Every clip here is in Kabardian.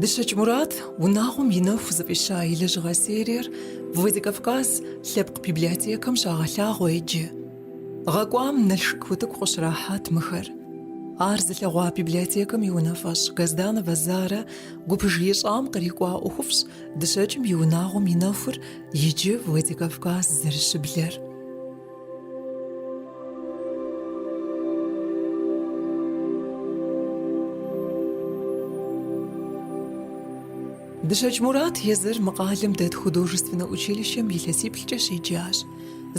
Дыщэкӏ Мурат унагъуэм и нэху зыфӏища и лэжьыгъэ сериер Владикавказ лъэпкъ библиотекэм щагъэлъагъуэ иджы. Гъэкӏуам Налшык утыку къыщрахьат мыхэр. Ар зылъэгъуа библиотекэм и унафэщӏ Газданова Зарэ гупыж ищӏам кърикӏуа ӏуэхуфӏщ Дыщэкӏым и унагъуэм и нэхур иджы Владикавказ зэрыщыблэр. Дыщэкӏ Мурат езыр мы къалэм дэт художественнэ училищэм илъэсиплӏкӏэ щеджащ.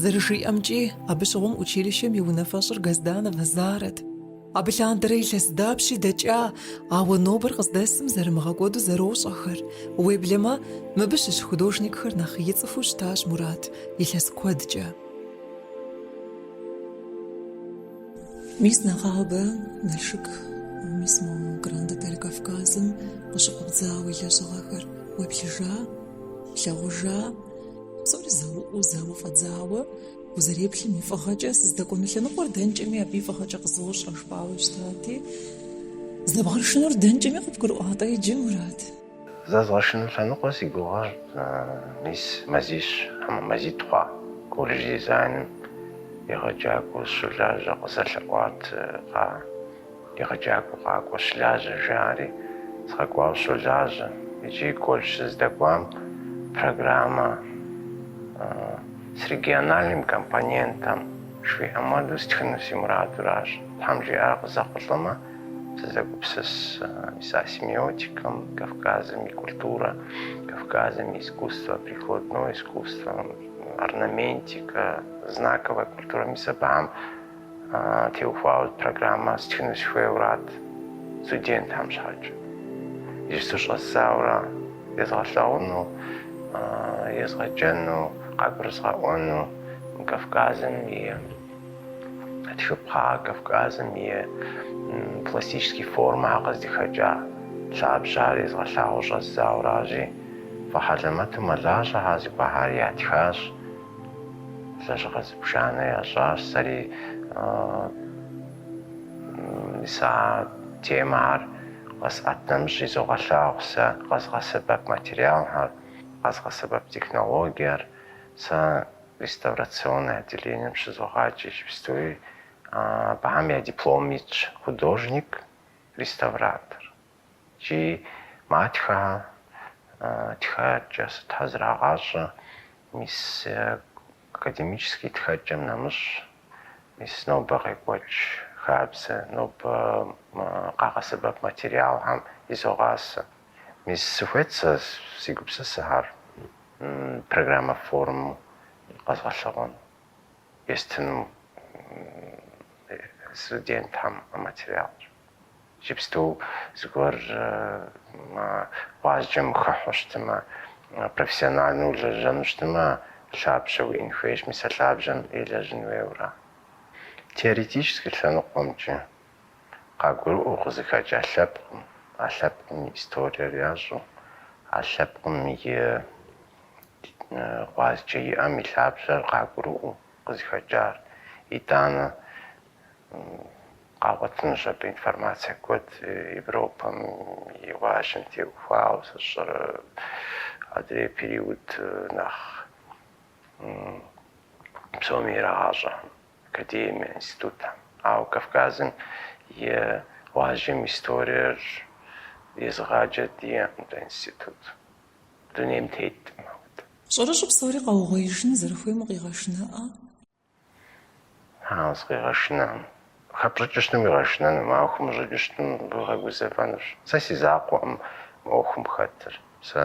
Зэрыжиӏэмкӏи, абы щыгъуэм училищэм и унафэщӏыр Газданова Зарэт. Абы лъандэрэ илъэс дапщи дэкӏа, ауэ нобэр къыздэсым зэрымыгъэкӏуэду зэрощӏэхэр. Уеблэмэ, мыбы щыщ художникхэр нэхъ и цӏыхуу щытащ Мурат илъэс куэдкӏэ. Мис нэгъабэ Налшык, мис мо Гранд Отель Кавказым къыщыфӏэбдза уи лэжьыгъэхэр уеплъыжа, плъэгъужа, псори зэуӏуу зэуэ фӏэдзауэ, Узэреплъым и фӏыгъэкӏэ сыздэкӏуэну лъэныкъуэр дэнкӏэми абы и фӏыгъэкӏэ къызощӏэ жыпӏауэ щытати, здэбгъэшынур дэнкӏэми къыбгурыӏуатэ иджы, Мурат? Зэзгъэшыну лъэныкъуэ си гугъэр мис мазищ, хьэмэ мазитӏ хъуа, колледж дизайным егъэджакӏуэу сыщолажьэ къызэлъэӏуат, кхъаа. Егъэджакӏуэ къакӏуэ щылажьэ, жаӏэри, сыкъэкӏуауэ сыщолажьэ. Иджы колледж сыздэкӏуам программэ с региональным компонентом жиӏэм хуэдэу стхыну си мурадуращ. Тхьэм жиӏэрэ къызэхъулӏэмэ, сызэгупсыс мис а семиотикэм, Кавказым и культурэ, Кавказым и искусствэ, прикладное искусство, орнаментикэ, знаковая культура, мис абыхэм Теухуауэ программэ стхыну сыхуейуэрат студентхэм щхьэкӏэ. Иджыпсту щӏэздзауэрэ езгъэлъэгъуну, езгъэджэну, къагурызгъэӏуэну мы Кавказым и тхыпхъэ, Кавказым и пластический формэхэр къыздыхэкӏа лъабжьэхэр езгъэлъагъуэу щӏэздзауэращи, фӏы хьэлэмэту мэлажьэхэр зыгуэрхэр ятхащ. Лэжьыгъэ зыбжанэ ящӏащ, сэри мис а темэхэр къэсӏэтым нэмыщӏ изогъэлъагъу, сэ къэзгъэсэбэп материалхэр, къэзгъэсэбэп технологиер. Сэ реставрационнэ отделением щызогъаджэ иджыпстуи, абыхэм я диплом итщ художник-реставратор. Джы матхэ тхэкӏэ сытхэ зрагъащӏэ, мис академический тхэкӏэм нэмыщӏ, мис нобэ къекӏуэкӏ хабзэ, нобэ къагъэсэбэп материалхэм изогъасэ. Мис сыхуейт сэ, си гупсысэхэр программэ формэу къэзгъэлъэгъуэну, естыну студентхэм а материалыр. Иджыпсту зыгуэр мы гъуазджэм хыхьу щытымэ, профессиональнэу лэжьэну щытымэ, лъабжьэ уиӏэн хуейщ мис а лъабжьэм елэжьын хуейуэ ара. Теоретическэ лъэныкъуэмкӏэ къагурыӏуэу къызыхэкӏа лъэпкъым, а лъэпкъым и историер ящӏу, а лъэпкъым и гъуазджэ иӏэм и лъабжьэр къагурыӏуэу къызыхэкӏар, итӏанэ Къагъуэтынущ абы информацэ куэд Европэм и гъуазджэм теухуауэ, сщӏэрэ, адрей период нэхъ псоми ирагъащӏэ академие, институтхэм. Ауэ Кавказым и гъуазджэм и историер езыгъаджэ диӏэкъым дэ институт, дунейм теткъым. Щӏэрыщӏэу псори къэугъуеижыну зэрыхуейм укъигъэшынэӏэ? Хьэуэ, сыкъигъэшынэкъым. Хэпщӏыкӏыу щытым уигъэшынэнукъым, ауэ хыумыщӏыкӏыу щытым укъигъэгузэвэнущ. Сэ си закъуэкъым мы ӏуэхум хэтыр. Сэ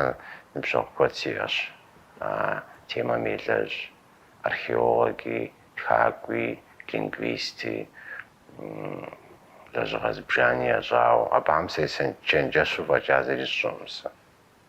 ныбжьэгъу куэд сиӏэщ а темэм елэжь, археологи, тхакӏуи, лингвисти, лэжьыгъэ зыбжани ящӏауэ. Абыхэм сечэнджэщу фӏэкӏа зыри сщӏэкъым сэ.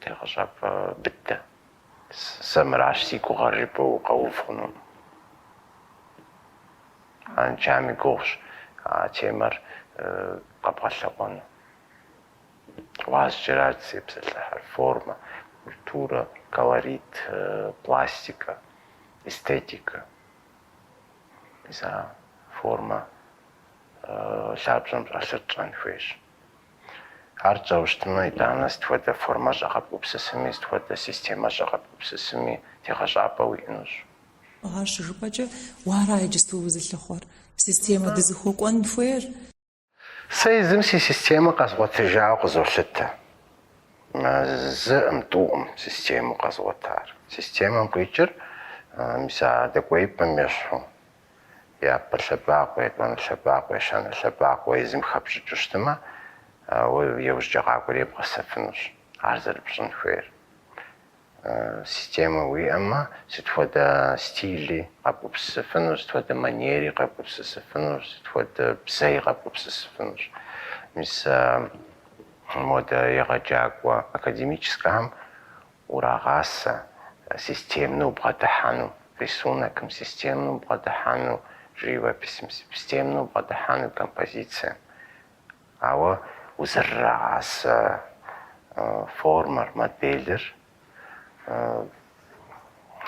Тегъэщӏапӏэ быдэ. Сэ мыращ си гугъэр жыпӏэу укъэув хъунукъым. Арыншами гугъущ а темэр къэбгъэлъэгъуэну. Гъуазджэра дызытепсэлъыхьыр, формэ, культурэ, колорит, пластикэ, эстетикэ. Мис а формэ лъабжьэм щӏэлъыр тщӏэн хуейщ. Ар тщӏэу щытмэ, итӏанэ сыт хуэдэ формэщӏэ къэбгупсысми, сыт хуэдэ системэщӏэ къэбгупсысми тегъэщӏапӏэ уиӏэнущ. Ар щыжыпӏэкӏэ, уэ ара иджысту узылъыхъуэр, системэ дызыхуэкӏуэн хуейр? Сэ езым си системэ къэзгъуэтыжауэ къызолъытэ. Зыӏым, тӏуӏым системэу къэзгъуэтар. Системэм къикӏыр мис а дэкӏуеипӏэм ещхьу. япэ лъэбакъуэ, етӏуанэ лъэбакъуэ, ещанэ лъэбакъуэ езым хэпщӏыкӏыу щытмэ, уэ иужькӏэ къакӏуэри ебгъэсэфынущ ар зэрыпщӏын хуейр. Системэ уиӏэмэ, сыт хуэдэ стили къэбгупсысыфынущ, сыт хуэдэ манери къэбгупсысыфынущ, сыт хуэдэ бзэи къэбгупсысыфынущ. Мис модэ егъэджакӏуэ академическэхэм урагъасэ системнэ убгъэдыхьэну, рисунокым, системнэ убгъэдыхьэну живописым, системнэ убгъэдыхьэну композицием. Ауэ узэрырагъасэ формэр, моделыр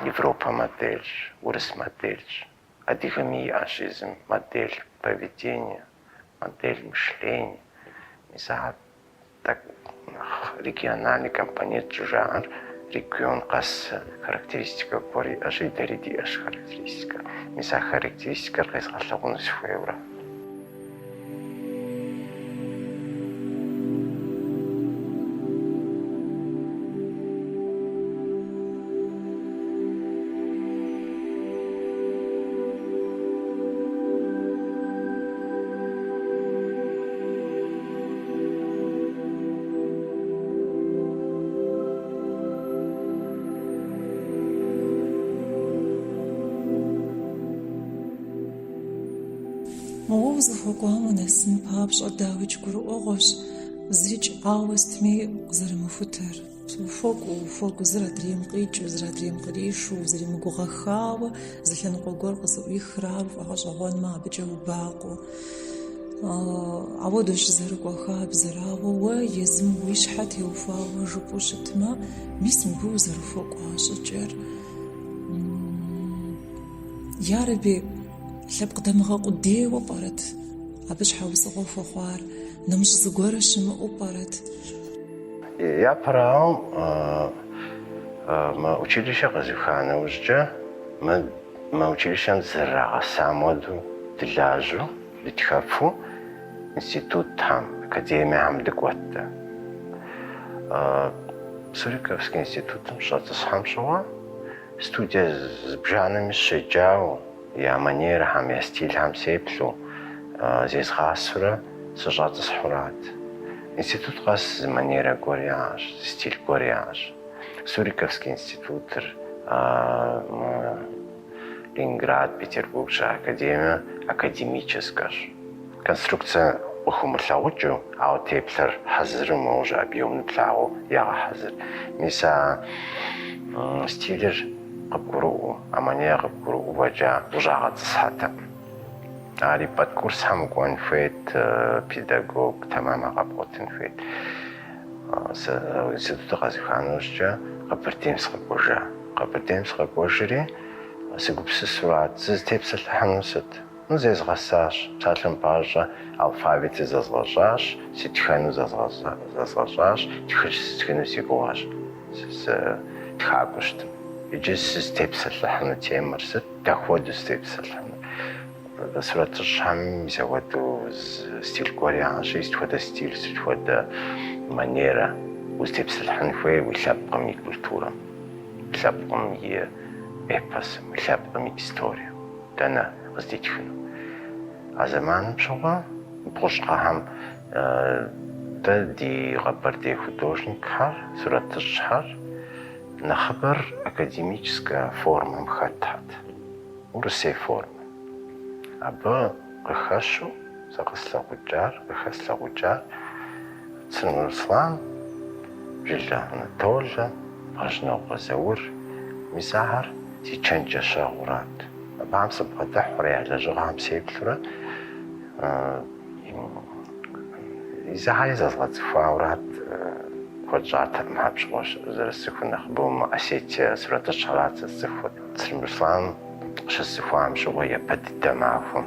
европэ модельщ, урыс модельщ, адыгэми иӏэщ езым модель поведения, модель мышления. Мис ахэр Так, региональный компонент щӏыжаӏэр регион къэс характеристикэ гуэр иӏэщи, дэри диӏэщ характеристикэ. Мис а характеристикэр къезгъэлъэгъуну сыхуейуэрэ? Мы гъуэгу узыхуэкӏуам унэсын папщӏэ дауикӏ гурыӏуэгъуэщ, зырикӏ ауэ сытми къызэрымыхутэр. Ухуокӏуэ, ухуокӏуэ, зыр адрейм къикӏыу, зыр адрейм къришу, узэримыгугъэххауэ зы лъэныкъуэ гуэр къызэӏуихрэ ар пфӏэгъэщӏэгъуэнмэ, абыкӏэ убакъуэу. Апхуэдэущ зэрыкӏуэ хабзэр, ауэ уэ езым уи щхьэ теухуауэ жыпӏэу щытмэ, мис мыбы узэрыхуэкӏуа щӏыкӏэр. Ярэби, лъэпкъ дамыгъэ къудейуэ пӏэрэт абы щхьэусыгъуэ хуэхъуар, нэмыщӏ зыгуэрэ щымыӏэу пӏэрэт? Япэрауэ, мы училищэр къэзуха нэужькӏэ, мы мы училищэм зэрырагъэсам хуэдэу дылажьэу, дытхэфу институтхэм, академиехэм дыкӏуэттэ. Суриковский институтым щӏэтӏысхьэм щыгъуэ студие зыбжанэми щеджауэ, Я манерэхэм, я стилхэм сеплъу, зезгъасэурэ сыщӏэтӏысхьурат. Институт къэс зы манерэ гуэр яӏэщ, зы стил гуэр яӏэщ. Суриковский институтыр, Ленинград, Петербург щыӏэ академиер академическэщ. Конструкцэ къыхумылъагъукӏыу, ауэ теплъэр хьэзыру уже объемнэ плъагъуу ягъэхьэзыр. Мис а стилыр къыбгурыӏуэу, а манер къыбгурыӏуэкӏэ ущӏагъэтӏысхьэтэкъым. Ари подкурсхэм укӏуэн хуейт, педагог тэмэм къэбгъуэтын хуейт. Сэ институтыр къэзухам нэужькӏэ Къэбэрдейм сыкъэкӏуэжа. Къэбэрдейм сыкъэкӏуэжри, сыгупсысурат, сызытепсэлъыхьыну сыт? Ну зезгъэсащ, псалъэм папщӏэ алфавитыр зэзгъэщӏащ, сытхэну зэзгъэщӏащ, тхылъ стхыну си гугъэщ, сытхакӏуэу щытым. Иджы сызытепсэлъыхьыну темэр сыт, дапхуэдэу сытепсэлъыхьынур? Сурэтыщӏхэм зэхуэдэу стиль гуэр яӏэщи, сыт хуэдэ стиль, сыт хуэдэ манерэ узытепсэлъыхьын хуейр уи лъэпкъым и культурэм, уи лъэпкъым и эпосым, уи лъэпкъым и историем? Дэнэ къыздитхыну? А зэманым щыгъуэ бгъущӏ гъэхэм дэ ди къэбэрдей художникхэр, сурэтыщӏхэр нэхъыбэр академическэ формэм хэтхэт, урысей формэм. Абы къыхэщу, Зыкъыслъэгъукӏар, къыхэслъэгъукӏар Црым Руслан, Жылэ Анатолэ, Бгъэжьнокъуэ Заур, мис ахэр си чэнджэщэгъурат. Абыхэм сыбгъэдыхьурэ я лэжьыгъэхэм сеплъурэ езыхэри зэзгъэцӏыхуаурат, куэд щӏатэкъым абы щыгъуэ зэрысцӏыхур, нэхъыбэу мы осетин сурэтыщӏхэрат сэ сцӏыхур. Црым Руслан къыщысцӏыхуам щыгъуэ япэ дыдэ махуэм.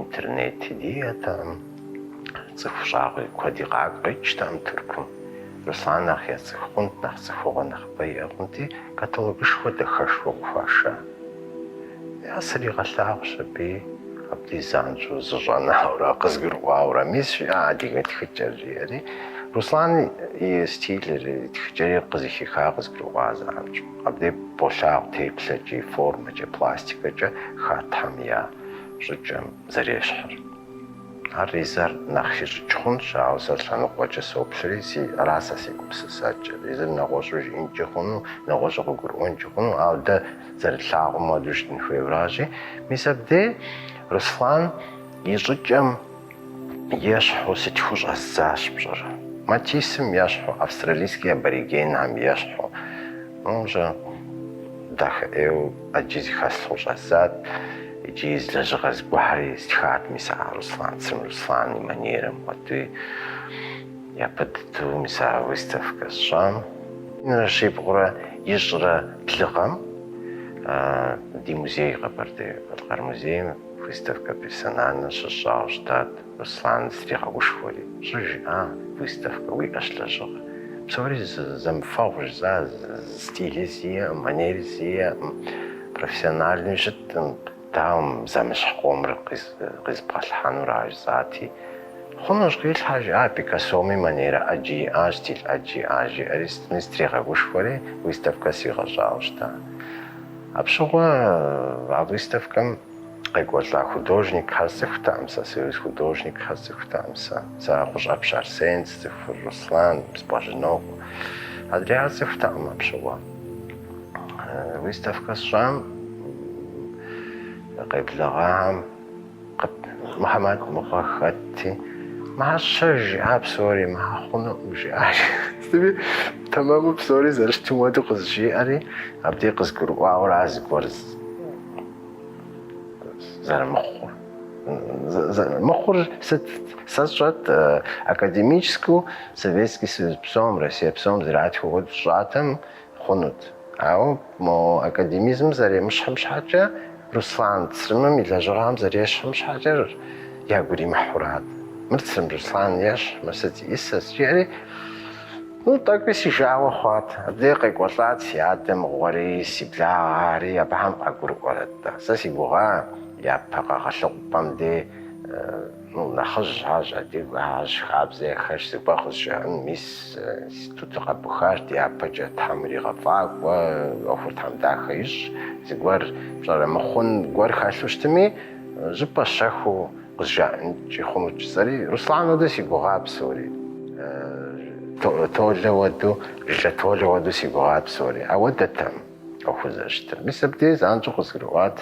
Интернети диӏэтэкъым, цӏыху щӏагъуи куэди къакӏ къикӏтэкъым Тыркум. Руслан нэхъ яцӏыху хъунт, нэхъ цӏыхугъуэ нэхъыбэ иӏэ хъунти, каталогышхуэ дахэшхуэ къыхуаша. Ар сыригъэлъагъущ аби, абдей занщӏэу, зыщӏэнауэрэ, къызгурыӏуауэрэ. Мис жиӏэ адыгэ тхыкӏэр, жиӏэри, Руслан и стилыр, и тхыкӏэри къызыхихар къызгурыӏуа занщӏэу. Абдеж болъагъу теплъэкӏи, формэкӏи, пластикэкӏи хьэтхэм я щӏыкӏэм зэрещхьыр. Ар езыр нэхъ хищӏыкӏ хъунщ, ауэ сэ лъэныкъуэкӏэ соплъри, си ара сэ си гупсысэкӏэр. Езыр нэгъуэщӏу жиӏэнкӏи хъуну, нэгъуэщӏу къыгурыӏуэнкӏи хъуну, ауэ дэ зэрытлъагъум хуэдэу щытын хуейуэращи. Мис абдеж Руслан и щӏыкӏэм. Ещхьу сытхыу щӏэздзащ пщӏэрэ. Матиссым ещхьу австралийские аборигенхэм ещхьу. Уже дахэ ӏейуэ ӏэджи зыхэслъхьу щӏэздзат икӏи зы лэжьыгъэ зыгуэрхэри стхат мис а Руслан Црым Руслан и манерым хуэдэуи япэ дыдэу мис а выставкэ сщӏам. Минрэ щибгъурэ ищӏрэ блы гъэм ди музей Къэбэрдей-Балъкъэр музейм Выставкэ персональнэ щыщӏауэ щытат, Руслан стригъэгушхуэри, щӏы жиӏа, Выставкэ уиӏэщ лэжьыгъэ. Псори зэмыфэгъущ жысӏа, стили сиӏэкъым, манери сиӏэкъым, профессиональнэуи щыткъым, дауэ мы зэмыщхь къомыр къизэбгъэлъхьэнур ар жысӏати, Хъунущ, къилъхьэ, жиӏат, Пикассоми манерэ ӏэджи иӏащ, стиль ӏэджи иӏащ, жиӏэри сытми сытригъэгушхуэри, Выставкэ сригъэщӏауэ щыта. Апщыгъуэ а выставкэм къекӏуэлӏа художникхэр сцӏыхутэкъым сэ, союз художникхэр сцӏыхутэкъым сэ. Сэ Гъущӏапщэ Арсен сцӏыхур, Руслан, Бгъэжьнокъуэ. Адрейхэр сцӏыхутэкъым апщыгъуэ. Выставкэ сщӏам, къеблэгъахэм. Къып Мухьэмэд мыгъуэ хэтти, мащэр жиӏа псори махъунукъым, жиӏащ. Сытми, тэмэму псори зэрыщытым хуэдэу къызжиӏэри, абдей къызгурыӏуауэра зыгуэр зэрымыхъур. Мыхъур сэ сщӏэт, академическэу Советский Союз псом, Россие псом зэратхым хуэдэу сщӏатэм, Хъунут. Ауэ мо академизмыр зэремыщхьым щхьэкӏэ, Руслан Црымым и лэжьыгъэхэм зэрещхьым щхьэкӏэ ягу иримыхьурат. Мыр Црым Руслан ещхь, мыр сыт зиӏысыр, жиӏэри, ну, тӏэкӏуи си жагъуэ хъуат. Абдеж къекӏуэлӏат си адэ мыгъуэри, си благъэри, абыхэм къагурыӏуэрэт-тӏэ. Сэ си гугъа япэ къэгъэлъэгъупӏэм де. Ну, нэхъыжьхэщ, адыгэхэщ, хабзэ яхэлъщ, зыгуэр къызжаӏэн, мис, институтыр къэбухащ, дяпэкӏэ Тхьэм иригъэфӏакӏуэ, ӏуэхур Тхьэм дахэ ищӏ, зыгуэр пщӏэрэ мыхъун гуэр хэлъу щытми, щӏыпӏэ щэхуу къызжаӏэнкӏи хъунут жысӏэри, Руслан уэду си гугъа псори. Толэ уэду, Жылэ Толэ уэду си гугъа псори. Ауэдэтэкъым ӏуэхур зэрыщытыр. Мис абдеж занщӏэу къызгурыӏуат.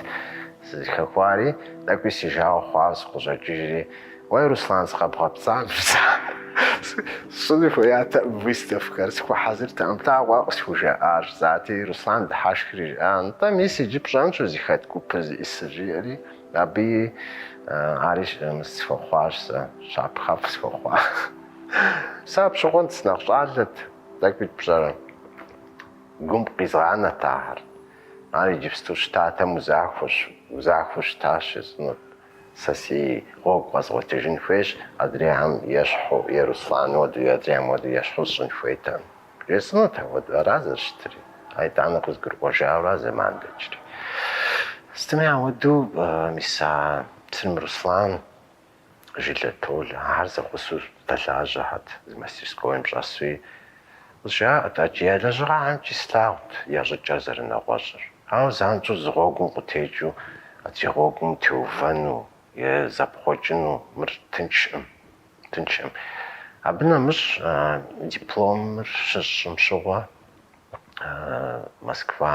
Сызыхэхуари, тӏэкӏуи си жагъуэ хъуауэ сыкъыщӏэкӏыжри, Уей, Руслан, сыкъэбгъэпцӏам жысӏа. Сщӏыну хуеятэкъым выставкэр, сыхуэхьэзыртэкъым, плъэгъуа къысхужаӏар? Жысӏати, Руслан дыхьэшхри жиӏащ, Нтӏэ, мис иджы пщӏэнщ узыхэт гупыр зиӏысыр, жиӏэри, абыи, ари схуэхъуащ сэ, щапхъэфӏ схуэхъуа. Сэ апщыгъуэм сынэхъ щӏалэт, тӏэкӏуи пщӏэрэ? Гум къизгъанэрт ахэр. Ар иджыпсту щытатэм узахуэщ, узахуэу щытащ жесӏэнут. Сэ си гъуэгу къэзгъуэтыжын хуейщ адрейхэм ещхьу, е Руслан уэду, е адрейхэм уэду ещхьу сщӏын хуейтэкъым. Жесӏэнут ауэду, ара зэрыщытри. Ар итӏанэ къызгурыӏуэжауэра зэман дэкӏри. Сытми ауэду, мис а Црым Руслан Жылэ Толэ, ахэр зэгъусэу зэдэлажьэхьэт, зы мастерскоим щӏэсуи, къызжаӏэрт ӏэджи, я лэжьыгъэхэмкӏи слъагъут я щӏыкӏэр зэрынэгъуэщӏыр. Ауэ занщӏэу зы гъуэгум къытекӏыу адрей гъуэгум теувэну е зэпхъуэкӏыну мыр тыншкъым, тыншкъым. Абы нэмыщӏ дипломыр щысщӏым щыгъуэ Москва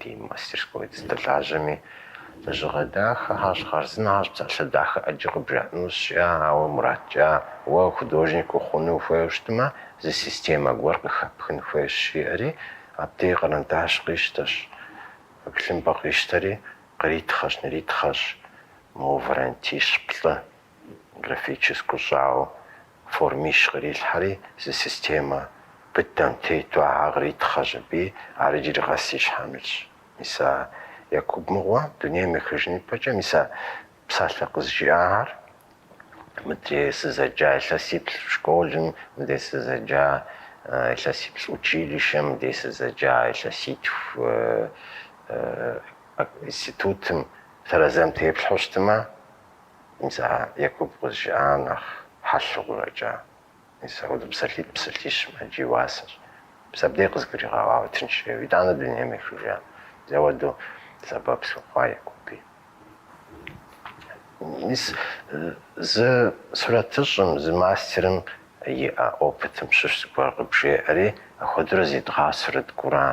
Ди мастерской сыздэлажьэми, лэжьыгъэ дахэхьэщ, хъарзынэхьэщ, псалъэ дахэ ӏэджи къыбжаӏэнущ, ауэ Мурат, жиӏа, уэ художник ухъуну ухуейуэ щытмэ, зы системэ гуэр къыхэпхын хуейщ, жиӏэри, абдей къэрандащ къищтэщ, тхылъымпӏэ къищтэри, къритхъэщ, ныритхъэщ, мо вариантищ-плӏы, Графическэу щӏауэ формищ кърилъхьэри, зы системэ быдэм тету ахьэ къритхъэщ аби, ар иджыри къэс си щхьэм илъщ. Мис а Якуб мыгъуэ дунейм ехыжын ипэкӏэ, мис а псалъэ къызжиӏахэр мыдрей сызэджа илъэсиплӏ школым, мыдрей сызэджа илъэсиплӏ училищэм, мыдрей сызэджа илъэситху институтым, тэрэзэм теплъхьэу щытымэ, Мис а Якуб къызжиӏар нэхъ хьэлъэурэкӏэ, мис ауэду псалъитӏ псалъищым ӏэджи и уасэщ. Мис абдей къызгуригъэӏуауэ тынш жеуэ, итӏанэ дунейм ехыжа, мис ауэду сэбэп схуэхъуа Якуби. Мис зы сурэтыщӏым, зы мастерым иӏэ опытым щыщ зыгуэр къыбжеӏэри, апхуэдэурэ зедгъасэрт кӏура?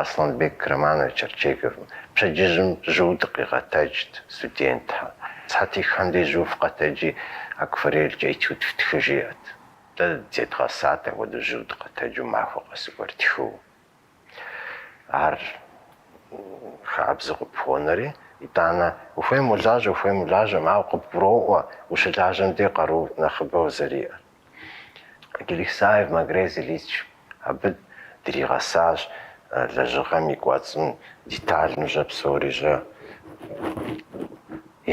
Асланбек Романович Арчеговым пщэдджыжьым жьыу дыкъигъэтэджт студентхэр. Сыхьэтихым деж жьыу фыкъэтэджи, акварелькӏэ этюд фтхы жиӏэт. Дэ зедгъэсат апхуэдэу жьыу дыкъэтэджу махуэ къэс зыгуэр ттхыу. Ар хабзэу къыпхуонэри, итӏанэ, ухуейм уолажьэ, ухуейм улажьэкъым, ауэ къыбгуроӏуэ, ущылажьэм дей къару нэхъыбэ узэриӏэр. Келехсаев Магрез Ильич абы дригъэсащ лэжьыгъэм и кӏуэцӏым детальныжьэ псорищӏэ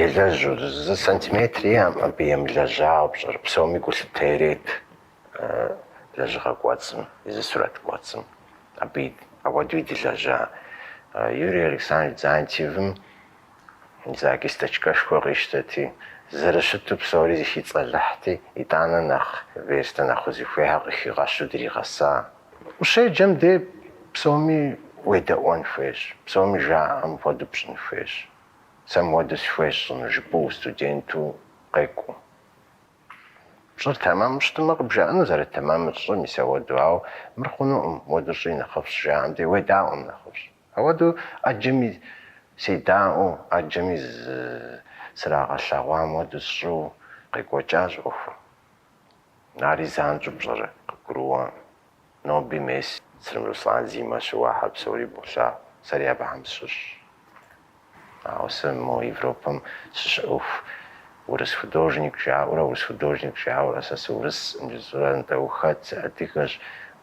елэжьу, зы сантиметри иӏэкъым абы емылэжьауэ пщӏэрэ, псоми гулъытэ ирет лэжьыгъэ кӏуэцӏым, езы сурэт кӏуэцӏым абы апхуэдэуи дылэжьа Юрий Александрович Дзантиевым. Зы кисточкэшхуэ къищтэти, зэрыщыту псори зыхицӏэлыхьти, итӏанэ нэхъ верстэ нэхъ узыхуейхэр къыхигъэщу дригъэса. Ущеджэм де псоми уедэӏуэн хуейщ, псоми жаӏэм хуэдэу пщӏын хуейщ. Сэ мыуэду сыхуейщ щӏыну, жыпӏэу студенту къекӏуэу. Пщӏыр тэмэму щытмэ, къыбжаӏэну зэрытэмэмыр, щӏы мис ауэду, ауэ мыр хъунукъым, мыуэду щӏи нэхъыфӏщ жаӏэм де, уедаӏуэм нэхъыфӏщ. Ауэдэу ӏэджэми седаӏуэу, ӏэджэми зызэрагъэлъэгъуам хуэдэу сщӏу къекӏуэкӏащ ӏуэхум. Ари занщӏэу пщӏэрэ, къыгурыӏуэкъым. Ноби мес Цырым Руслан сымэ щыуахэр псори болъагъу, сэри абыхэм сыщыщщ. Ауэ сэ мо Европэм сыщыӏэху урыс художник жаӏэурэ, урыс художник жаӏэурэ, сэ сыурыскъым жысӏэурэ нтӏэ ухэт, сыадыгэщ,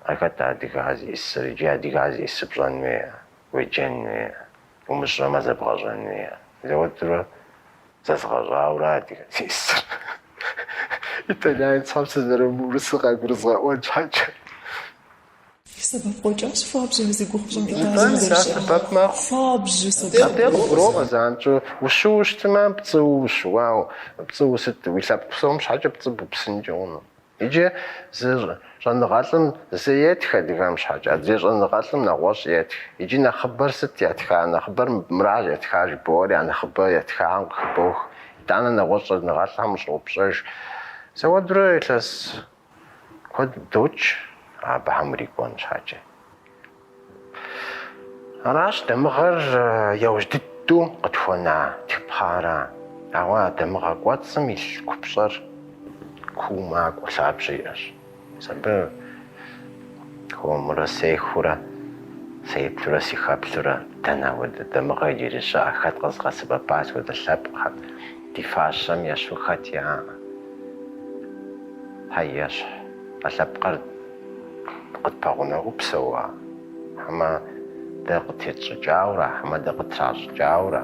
а хэт адыгэр зиӏысыр, иджы адыгэр зиӏысыр пщӏэн хуейэ, уеджэн хуейэ, умыщӏэмэ зэбгъэщӏэн хуейэ. Сэ уэдурэ зэзгъэщӏаура адыгэр зиӏысыр. Итальянцхэм сызэрымыурысыр къагурызгъэӏуэн щхьэкӏэ. Сэбэп къикӏащ хуабжьу а зи гугъу пщӏым Италием зэрыщыӏэр. Хуабжьу сэбэп. Абдеж къыбгуроӏуэ занщӏэу ущыуэу щытмэ, пцӏыуэ ущыуауэ, пцӏыуэ сыт, уи лъэпкъ псом щхьэкӏэ пцӏы бупсынкӏэ хъуну? Иджы зы щӏэныгъэлӏым зы етх адыгэм щхьэкӏэ, адрей щӏэныгъэлӏым нэгъуэщӏ етх. Иджы нэхъыбэр сыт ятха? Нэхъыбэр мыращ ятха жыбоӏэри, а нэхъыбэ ятхахэм къыхыбох. Итӏанэ нэгъуэщӏ щӏэныгъэлӏхэм ущӏоупщӏэж. Сэ уэдурэ илъэс Куэд докӏ абыхэм урикӏуэн щхьэкӏэ. Аращ дамыгъэр яужь дыдэу къытхуэна тхыпхъэра. Ауэ а дамыгъэ кӏуэцӏым илъ купщӏэр куу макӏуэ лъабжьэ иӏэщ. Сэ абы хуэмурэ сехыурэ, сеплъурэ сыхэплъэурэ дэнэ хуэдэ дамыгъэ иджыри щыӏэ, хэт къэзыгъэсэбэпа сыт хуэдэ лъэпкъхэр. Ди фащэм ещхьу хэт яӏэ? Хьэ, ещхь. А лъэпкъыр къытпэгъунэгъуу псэуа? Хьэмэ дэ къытетщӏыкӏаура, хьэмэ дэ къыттращӏыкӏаура?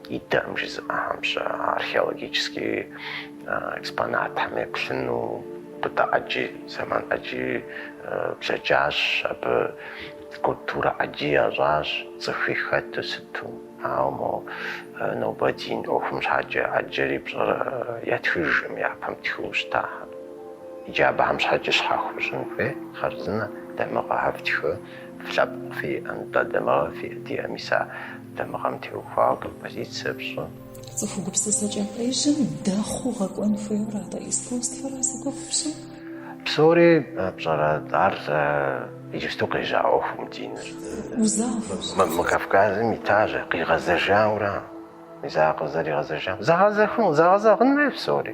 Идэкъым жызыӏэхэм-щэ археологически экспонатхэм еплъыну мыдэ ӏэджи, зэман ӏэджи блэкӏащ, абы культурэ ӏэджи ящӏащ, цӏыхуи хэту сыту. Ауэ мо нобэ дин ӏуэхум щхьэкӏэ ӏэджэри пщӏэр ятхыжкъым, япэм тхыу щытахэм. Иджы абыхэм щхьэкӏэ щхьэхуэ щӏын хуей хъарзынэ, дамыгъэхэр фтхы, флъэпкъ фиӏэ, нтӏэ, дамыгъэ фиӏэ, диӏэ, мис а Дамыгъэм теухуауэ композицэ фщӏы. Цӏыху гупсысэкӏэ къежьэм дэхъуу гъэкӏуэн хуейуэр атӏэ искусствэра зи гугъу пщӏыр? Псори пщӏэрэ ар сэ иджыпсту къежьа ӏуэхум диныр? Узафэщ. Мы Кавказым итащ, къигъэзэжаура, мис ар къызэригъэзэжам зэгъэзэхуэн, зэгъэзэгъын хуей псори.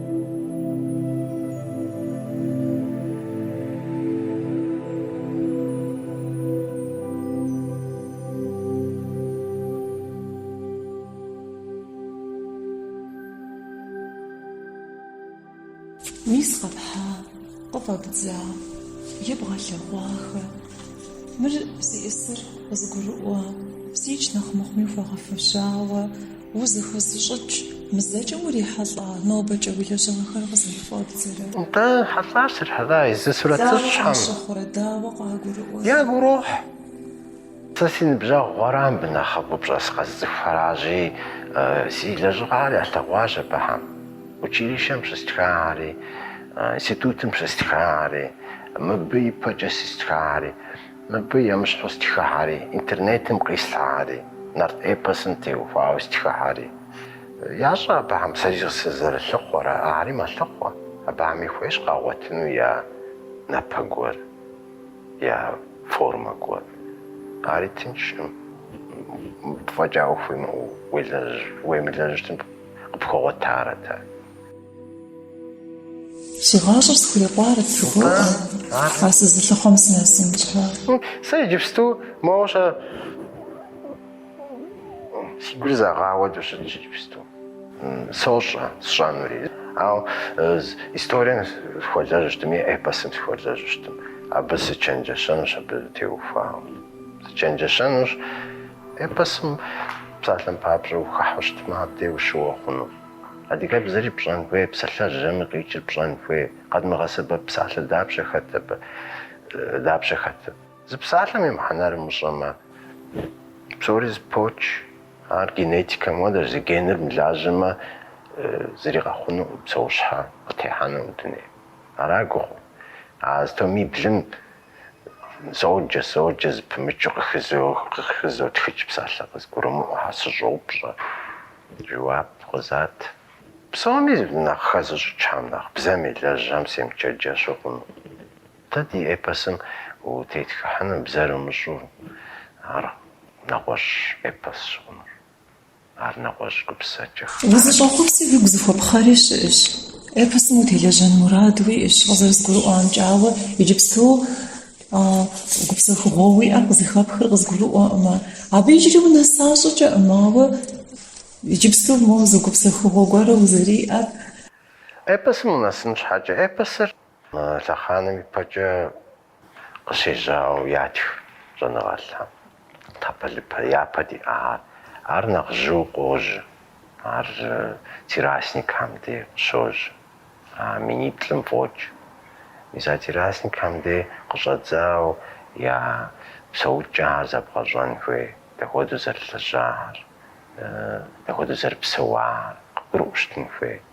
Мис къэпхьа, къыфӏэбдза, ебгъэлъэгъуахэ. Мыр зиӏысыр къызыгурыӏуэ, зикӏ нэхъ мыхъуми хуэгъэфэщауэ. Узыхэзыщӏыкӏ, мызэкӏэ урихьэлӏа нобэкӏэ уи лэжьыгъэхэр къызэрыфӏэбдзэрэ? Нтӏэ, хьэлӏа срихьэлӏай, езы сурэтыщӏхэм. Дауэ къащыхъурэ, дауэ къагурыӏуэрэ? Ягу урохь, сэ си ныбжьэгъухэра мыбы нэхъыбэу пщӏэ сыкъэзыцӏыхухэращи, си лэжьыгъэхэр ялъэгъуащ абыхэм. Училищэм щыстхари, институтым щыстхари, мыбы ипэкӏэ стхари, Мыбы емыщхьу стхыхэри, интернетым къислъхьэри, нарт эпосым теухуауэ стхыхэри. Ящӏэ абыхэм сэри сызэрылъыхъуэр, ари мэлъыхъуэ. Абыхэми хуейщ къагъуэтыну я напэ гуэр, я формэ гуэр. Ари тыншкъым, мыбы фӏэкӏа ӏуэху уемылэжьыжтэм къыпхуэгъуэтарэт ар. Си гъащӏэр схурикъуарэт жыхуаӏэу, а сызылъыхъуэм сынэсын щхьэ. Сэ иджыпсту моуэ щэ си гур зэгъа хуэдэу щытщ иджыпсту, сощӏэ сщӏэнури. Ауэ историем сыхуэлэжьу щытми, эпосым сыхуэлэжьу щытым, абы сычэнджэщэнущ абы теухуауэ. Сычэнджэщэнущ эпосым, псалъэм папщӏэ, ухыхьэу щытмэ, абдей ущыуэ хъуну. Адыгэбзэри пщӏэн хуей, псалъэжьми къикӏыр пщӏэн хуей, къэдмыгъэсэбэп псалъэ дапщэ хэт абы, дапщэ хэт? Зы псалъэм и мыхьэнэр умыщӏэмэ, псори зыпоч, ар генетикэм хуэдэщ, зы геныр мылажьэмэ, зыри къэхъунукъым, псэущхьэ къытехьэнукъым дунейм. Ара гугъур? А зы томиблым. Соджэ, соджэ, зэпымычу къыхызотхыкӏ псалъэ къызгурымыӏуэхэ, сыщӏопщӏэ, жэуап къызат. Псоми нэхъ хэзыщӏыкӏхэм нэхъ, бзэм елэжьам семычэнджэщу хъуну. Дэ ди эпосым утетхыхьыну бзэр умыщӏэу, ар нэгъуэщӏ эпосщ хъунур. Ар нэгъуэщӏ гупсысэкӏэщ. Узыщӏэхъуэпси уигу зыхуэпхъэри щыӏэщ. Эпосым утелэжьэн мурад уиӏэщ, къызэрызгурыӏуамкӏэ, ауэ иджыпсту гупсэхугъуэ уиӏэр къызыхэпхыр къызгурыӏуэкъымэ. Абы иджыри унэса щӏыкӏэкъым, ауэ иджыпсту моуэ зы гупсэхугъуэ гуэрэ узэриӏэр. Эпосым унэсын щхьэкӏэ, эпосыр Лъэхъаным ипэкӏэ къыщежьауэ ятх щӏэныгъэлӏхэм тхьэпэлыпэ япэ диӏахэр. Ар нэхъ жьыу къожьэ. Ар террасникхэм де къыщожьэ, а миниплӏым фӏокӏ. Мис а террасникхэм де къыщӏэдзауэ я псэукӏэхэр зэбгъэщӏэн хуей, дапхуэдэу зэрылэжьахэр, дапхуэдэу зэрыпсэуахэр къыбгурыӏуэу щытын хуей.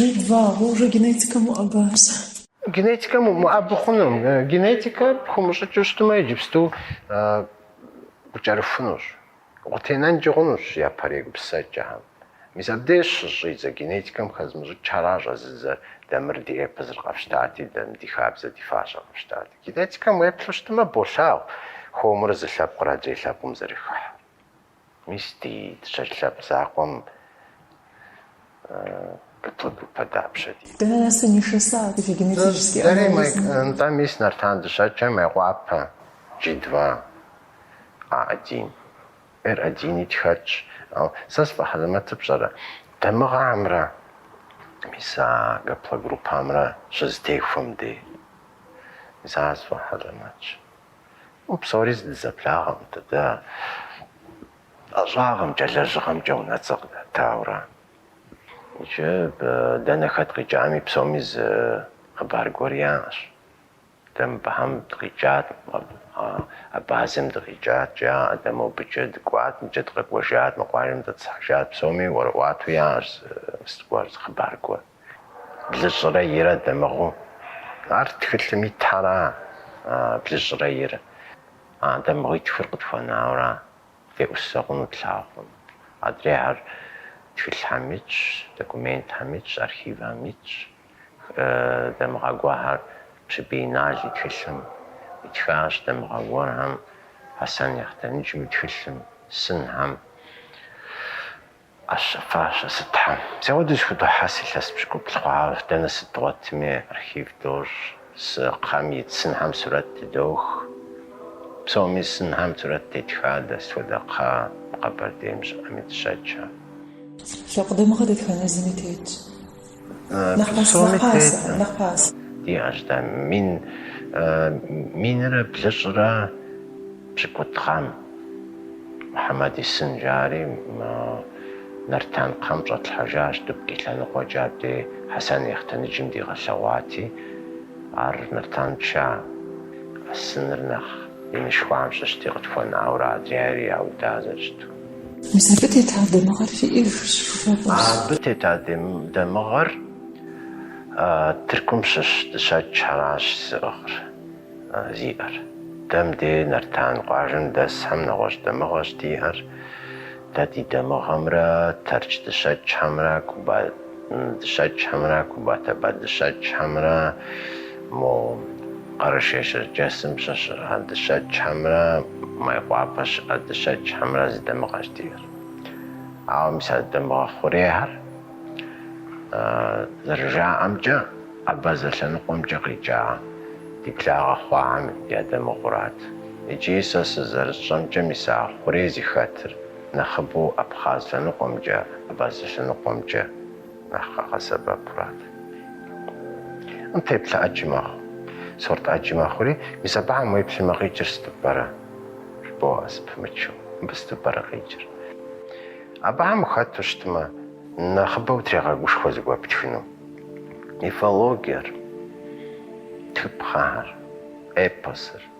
Джи два уже генетикэм уӏэбащ. Генетикэм умыӏэбы хъунум. Генетикэ пхумыщӏыкӏыу щытмэ, иджыпсту укӏэрыхунущ, укъытенэнкӏи хъунущ япэрей гупсысэкӏэхэм. Мис абдеж щыщӏидзэ, генетикэм хэзымыщӏыкӏхэращ а жызыӏэр дэ мыр ди эпосыр къэфщтати, дэм ди хабзэр, ди фащэр къэфщтати. Генетикэм уеплъу щытмэ, болъагъу хуэмурэ зы лъэпкъыр адрей лъэпкъым зэрыхыхьэр. Мис ди Дыщэкӏ лъэпкъ закъуэм группэ дапщэ диӏэ? Дэнэ нэсу нишэса и генетический анализ? Нтӏэ, мис Нартан Дыщэкӏхэ Мейкъуапэ джи два а один. Эр одини тхэтщ. Ау сэ сфӏэхьэлэмэтыр пщӏэрэ? Дамыгъэмрэ мис а гаплогруппэмрэ щызэтехуэм дей. Мис ар сфӏэхьэлэмэтщ. Уэ псори дызэблагъэкъым дэ. Ӏэщӏагъэмкӏэ, лэжьыгъэмкӏэ унэцӏэ къыдатауэрэ. Иджы дэнэ хэт къикӏами псоми зы хъыбар гуэр яӏэщ. Дэ мыбыхьэм дыкъикӏат, Абазэм дыкъикӏат, жаӏэ, дэ мобыкӏэ дыкӏуат, мыбыкӏэ дыкъэкӏуэжат, мы къуажэм дэтӏысхьэжат, псоми ӏуэрыӏуатэу яӏэщ зы мыс гуэр, зы хъыбар гуэр. Блыщӏрэ ирэ дамыгъэу. Ар тхылъым итхэра, блыщӏрэ ир? А дамыгъитхыр къытхуэнаура, деӏусэ хъуну тлъагъукъым. Адрейхэр тхылъхэм итщ, документхэм итщ, архивхэм итщ. Дамыгъэ гуэрхэр Пщыбий Инал и тхылъым итхащ, дамыгъэ гуэрхэм Хьэсэн Ехъутэныджым и тхылъым, сынхэм. Ӏэщэ-фащэ сытхэм. Си хуэдэу зэхудохьэс илъэс пщыкӏуплӏ хъуауэ. Дэнэ сыт дгъуэтми, архив дощӏ, псы кхъэм ит сынхэм сурэт тыдох. Псоми сынхэм сурэт тетха, дэ сыт хуэдэ кхъэ мы Къэбэрдейм щыӏэми Дыщэкӏхэ лъэпкъ дамыгъэ дэтхэнэ зыми тетщ. Псоми тетым диӏэщ дэ мин минрэ блыщӏрэ пщыкӏутху гъэм. Мухьэмэд исын жари мы Нартан кхъэм щӏэтлъхьэжащ Дубки лъэныкъуэкӏэ абдей Хьэсэн Ехъутэныджым дигъэлъэгъуати, ар Нартан тша, а сыныр нэхъ инышхуам щыщти къытхуэнауэрэ адрейр яуда зэрыщыту. Мис абы тета дамыгъэр фиӏэжщ, фыфӏэфӏырщ. Абы тета дамыгъэр Тыркум щыщ дыщэкӏхэращ зыӏыгъыр зиӏэр. Дэ мыбдеж Нартан къуажэм дэсхэм нэгъуэщӏ дамыгъэщ диӏэр. Дэ ди дамыгъэмрэ Тэрч дыщэкӏхэмрэ Куба дыщэчхьэмрэ Кубатэбэ дыщэчхьэмрэ мо Къэрэшей Щэрджэсым щыщ а дыщэчхьэмрэ Майкъуапэ щыӏэ дыщэчхьэмрэ зы дамыгъэщ диӏэр. Ауэ мис а дамыгъэ хъурейхэр, зэрыжаӏэмкӏэ, абазэ лъэныкъуэмкӏэ къикӏа ди благъэ хъуахэм я дамыгъэурат. Икӏи сэ сызэрысщӏэмкӏэ мис а хъурей зыхэтыр нэхъыбэу абхъаз лъэныкъуэмкӏэ, абазэ лъэныкъуэмкӏэ нэхъ къагъэсэбэпурат. М теплъэ ӏэджи мэхъу, сорт ӏэджи мэхъури, мис абыхьэм уеплъмэ къикӏыр сыту пӏэрэ? жыбоӏэ зыпымычу. Мыбы сыту пӏэрэ къикӏыр? Абыхьэм ухэту щытмэ, нэхъыбэу утрегъэгушхуэ зыгуэр птхыну. Мифологиер, тхыпхъэхэр, эпосыр.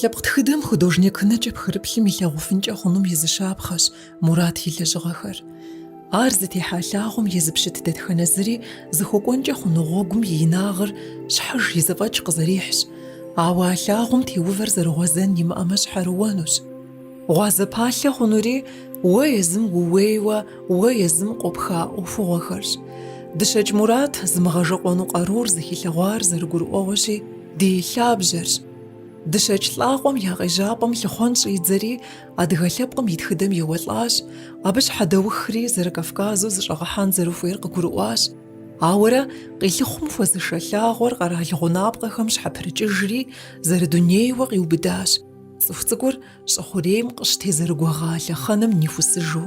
Лъэпкъ тхыдэм художник нэкӏэ пхырыплъым илъагъуфынкӏэ хъунум и зы щапхъэщ. Мурат и лэжьыгъэхэр. Ар зытехьа лъагъуэм езыпщыт дэтхэнэ зыри зыхуэкӏуэнкӏэ хъуну гъуэгум и инагъыр щхьэж и зэфӏэкӏ къызэрихьщ, ауэ а лъагъуэм теувэр зэрыгъуэзэн имыӏэмэ щхьэрыуэнущ. Гъуазэ палъэ хъунури уэ езым ууейуэ уэ езым къопха ӏуэхугъуэхэрщ. Дыщэкӏ Мурат зымыгъэжэкъуэну къарур зыхилъэгъуар зэрыгурыӏуэгъуэщи, ди лъабжьэрщ. Дыщэкӏ лӏакъуэм я къежьапӏэм лъыхъуэн щӏидзэри, Адыгэ лъэпкъым и тхыдэм еуэлӏащ, абы щхьэдэухри Зэрыкавказу зыщӏэгъэхьэн зэрыхуейр къыгурыӏуащ. Ауэрэ къилъыхъум хуэзышэ лъагъуэр къэрал гъунапкъэхэм щхьэпрыкӏыжри, зэрыдунейуэ къиубыдащ, цӏыху цӏыкӏур щӏы хъурейм къыщытезэрыгуэгъа лъэхъэнэм нихусыжу.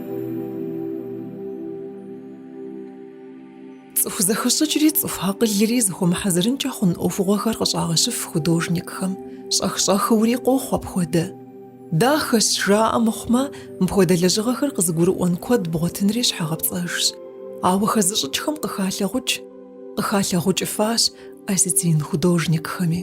Цӏыху зэхэщӏыкӏри цӏыху акъылри зыхуэмыхьэзырынкӏэ хъун ӏуэхугъуэхэр къыщӏагъэщыф художникхэм. Щӏэх-щӏэхыури къохъу апхуэдэ. Дахэщ, жаӏэ мыхъумэ, мыпхуэдэ лэжьыгъэхэр къызыгурыӏуэн куэд бгъуэтынри щхьэгъэпцӏэжщ. Ауэ хэзыщӏыкӏхэм къыхалъагъукӏ. Къыхалъагъукӏыфащ осетин художникхэми.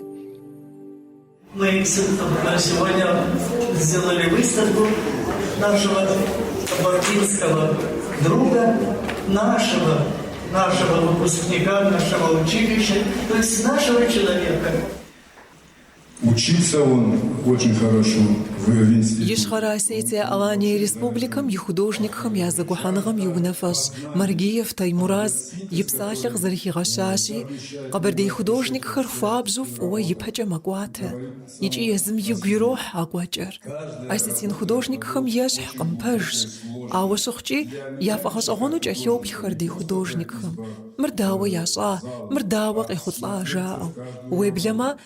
Ищхъэрэ-Осетие Алание Республикэм и художникхэм я зэгухьэныгъэм и унафэщӏ Маргиев Таймураз И псалъэ къызэрыхигъэщащи, къэбэрдей художникхэр хуабжьу фӏыуэ ипэкӏэ мэкӏуатэ икӏи езым игу ирохь а кӏуэкӏэр. Осетин художникхэм ещхькъым, пэжщ, ауэ щыхъукӏи, яфӏэгъэщӏэгъуэну кӏэлъоплъхэр ди художникхэм, мыр дауэ ящӏа, мыр дауэ къехъулӏа жаӏэу. Уеблэмэ,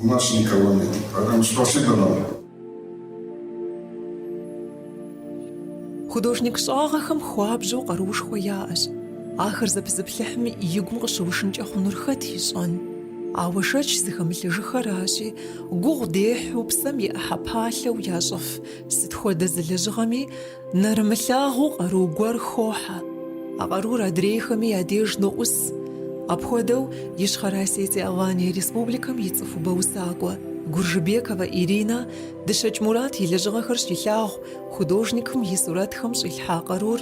У нас никого нет. Поэтому спасибо вам. Художник щӏагъэхэм хуабжьу къарушхуэ яӏэщ. Ахэр зэпызыплъыхьым игум къыщыушынкӏэ хъунур хэт ищӏэн? Ауэ шэч зыхэмылъыжыхэращи, гугъу дехьу псэм и ӏыхьэ палъэу ящӏыф сыт хуэдэ зы лэжьыгъэми, Нэрымылъагъуу къару гуэр хохьэ, а къарур адрейхэми я деж ноӏус. Апхуэдэу Ищхъэрэ Осетие-Алания Республикэм и цӏыхубэ усакӏуэ Гуржыбековэ Иринэ Дыщэкӏ Мурат и лэжьыгъэхэр щилъагъу художникым и сурэтхэм щӏилъхьа къарур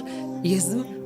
езым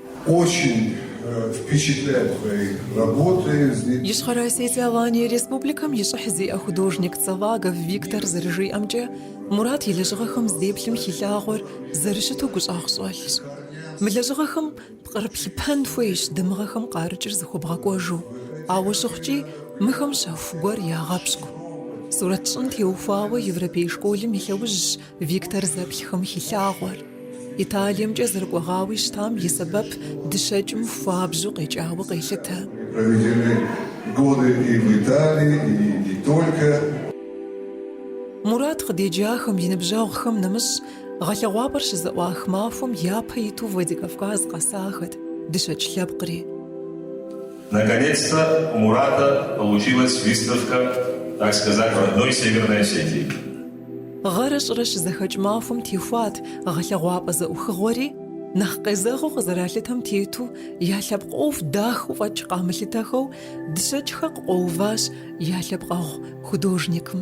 Очень впечатляет твои работы. Ищхъэрэ-Осетие Алание Республикэм и щӏыхь зиӏэ художник Цаллагов Виктор зэрыжиӏэмкӏэ, Мурат и лэжьыгъэхэм здеплъым хилъагъуэр зэрыщыту гущӏагъщӏэлъщ. Мы лэжьыгъэхэм пкърыплъыпэн хуейщ дамыгъэхэм къарыкӏыр зыхуэбгъэкӏуэжу, ауэ щыхъукӏи, мыхэм щэху гуэр ягъэпщкӏу. Сурэт щӏын теухуауэ Европей школым и лъэужьщ Виктор зэплъхэм хилъагъуэр, Италиемкӏэ зэрыкӏуэгъауи щытам и сэбэп Дыщэкӏым хуабжьу къекӏауэ къелъытэ. Мурат къыдеджахэм и ныбжьэгъухэм нэмыщӏ, гъэлъэгъуапӏэр щызэӏуах махуэм япэ иту Владикавказ къэсахэт Дыщэкӏ лъэпкъри. Гъэрэ щӏырэ щызэхэкӏ махуэм техуат гъэлъэгъуапӏэ зэӏухыгъуэри, нэхъ къезэгъыу къызэралъытэм тету я лъэпкъ ӏуэху дахэу фӏэкӏ къамылъытэхэу Дыщэкӏхэр къыкъуэуващ я лъэпкъэгъу художникым.